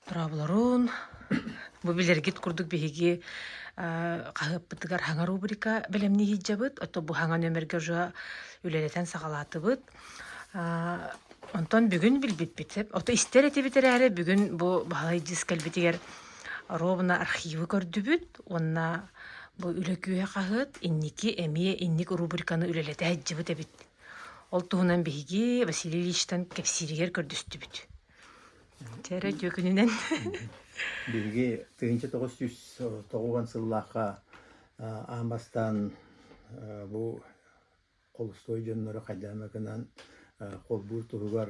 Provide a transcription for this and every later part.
Торооболорун бу билэргит курдук биһиги хаһыаппытыгар хаҥа рубрика бэлэмнии сылдьабыт, ото бу хаҥа нөмергэ уже үлэлэтэн саҕалаатыбыт. Онтон бүгүн билбиппит, ото истэр этибит эрээри, бүгүн бу Баһылай дьиз кэлбитигэр ровно архивы көрдүбүт уонна бу үлэ күөһэ хаһыат инники эмиэ инник рубриканы үлэлэтэ сылдьыбыт эбит. Ол туһунан биһиги Василий Ильичтан кэпсииригэр көрдөстүбүт. Чэ эрэ дьүөкүнүнэн Биһиги тыһыынча тоҕус сүүс тоҕуан сыллаахха аан бастаан бу холустуой дьоннору хайдаамакынан холбуур туһугар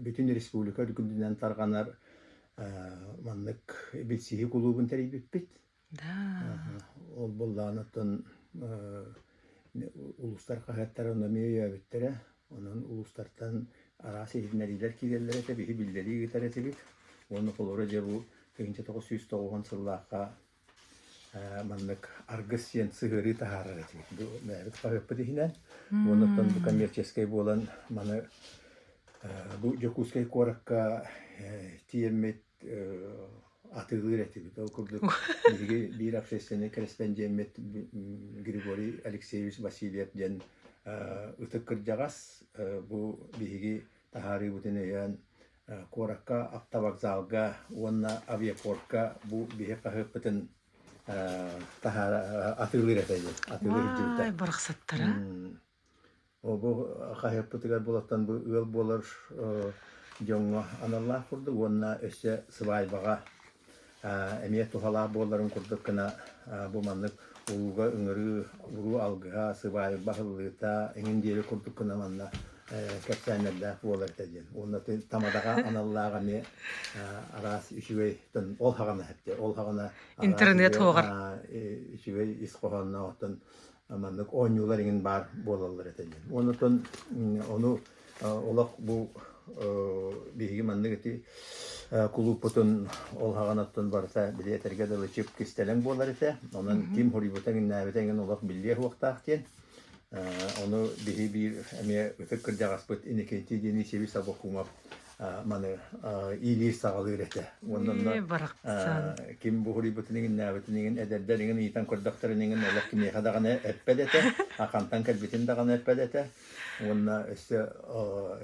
бүтүн республика үрдүнэн тарҕанар маннык билсиһии кулуубун тэрийбиппит. Ол буллаҕын оттон улуустар хаһыаттара ону эмиэ өйөөбүттэрэ. Онон улуустартан араас иһитиннэриилэр киирэллэр этэ, биһи биллэрии ыытар этибит. Уонна холоро дьэ бу тыһыынча тоҕус сүүс тоҕуһун сыллаахха маннык аргыс диэн сыһыарыы таһаарар этибит. Бу бэйэбит хаһыаппыт иһинэн. Уонна оттон бу коммерческэй буолан маны бу Дьокуускай куоракка тиийэммит атыылыыр этибит. Ол курдук биһиги биир общественнай корреспондеммит Григорий Алексеевич Васильев диэн ытык кырдьаҕас бу биһиги таһаарыыбытын өйөөн куоракка автовокзалга уонна авиапортка бу биһи хаһыаппытын таһаара атыылыыр этэ диэн атыылыыр дьиэтэ барахсаттара Бу хаһыаппытыгар булаттан бу ыал буолар дьоҥҥо аналлаах курдук уонна өссө сыбаайбаҕа эмиэ туһалаах буоларын курдук гына бу маннык ууга ыҥырыы, уруу алгыһа, сыбаайба аһыллыыта эҥин диэри курдук гына манна кэпсээннэрдээх буолар этэ диэн. Уонна тамадаҕа аналлаах эмиэ араас үчүгэйтэн ол хаҕына эттэ. Ол хаҕына интернет хоһор үчүгэй ис хоһоонноохтон маннык оонньуулар иҥин баар буолаллар этэ диэн. Онутун ону олох бу биһиги маннык ити кулууппутун ол хаҕан оттон барыта били этэргэ дылы чип кистэлэҥ буолар этэ. Онон ким хоруйбута иҥнээбитэ иҥин олох биллиэ уохтаах диэн. Ону биһи биир эмиэ ытык кырдьаҕаспыт Иникитии диэни Сиви Сабокумов маны иилиир саҕалыыр этэ. Уонна ким буһуруйбутун игиннээбитин игин эдэрдэр игин иитэн көрдөхтөрүн игин олох кимиэхэ даҕаны эппэт этэ, ахантан кэлбитин даҕаны эппэт этэ. Уонна өссө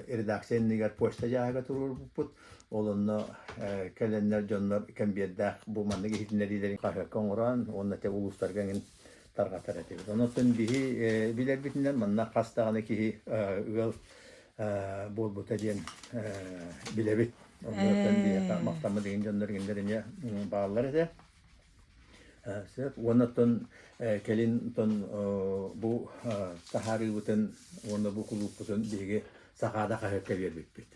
редакция иннигэр почта дьааһыга туруорбуппут. Ол онно кэлэннэр дьоннор кэмбиэрдээх бу маннык иһитиннэриилэрин хаһыакка оҥорон уонна те улуустарга тарҕатар этибит. Онон биһи билэрбитинэн манна хас даҕаны киһи ыал буолбута диэн билэбит. Оннуттан биһиэхэ махтаммыт дьон дьонноргиннэрине бааллар этэ. Уоннаттан кэлин бу таһаарыыбытын уонна бу кулууппутун биһиги сахаада хаһыакка биэрбиппит.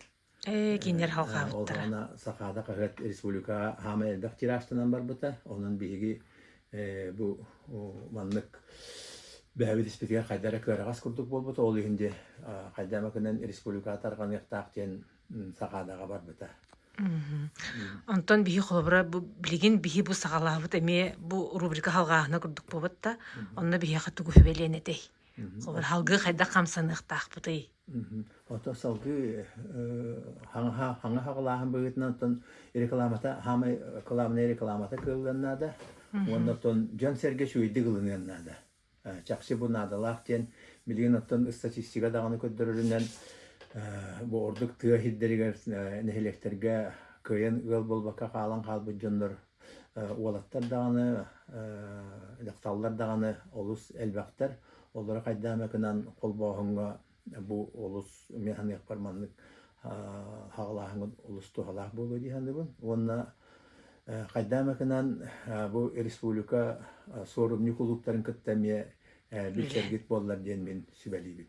Э, кинилэр Э, ол халхаабыттара. онно Сахаада хаһыат республика хаама элбэх тиражтанан барбыта. Онон биһиги э, бу о, маннык бэһэбит испитигэр хайда эрэ кыараҕас курдук буолбута. Ол иһин де а, хайда макынан республика тарҕаныахтаах диэн м, Сахаадаҕа барбыта. Мгм. М. Онтон биһи холобура бу билигин биһи бу саҕалаабыт эмиэ бу рубрика халҕааһына курдук буолбатта. Мгм. Онно биһиэхэ тугу хүбэлиэн этэй? Салгыы хайдах хамсаныахтаахпытый? Ото салгыы хаҥаһа хаҥаһа халааһын быһыытынан оттон рекламата хаамай кылаабынай рекламата кыыллан наада уонна оттон дьон-сэргэ сүүйдүк ылыныан наада. Чапси бу наадалаах диэн билигин оттон ыстатистика даҕаны көрдөрөрүнэн бу ордук тыа иһирдэригэр нэһилиэктэргэ кыайан ыал буолбакка хаалан хаалбыт дьоннор Уолаттар даҕаны, дьахталлар даҕаны олус элбэхтэр. Олору хайдаан эмэ гынан холбооһуҥҥа бу олус мен саныахпар маннык хаалааһыҥҥыт олус туһалаах буолуо дии саныыбын. Уонна хайдаан эмэ гынан бу республика суорумньу кулууптарын кытта эмиэ билсэргит буоллар диэн мин сүбэлиибин.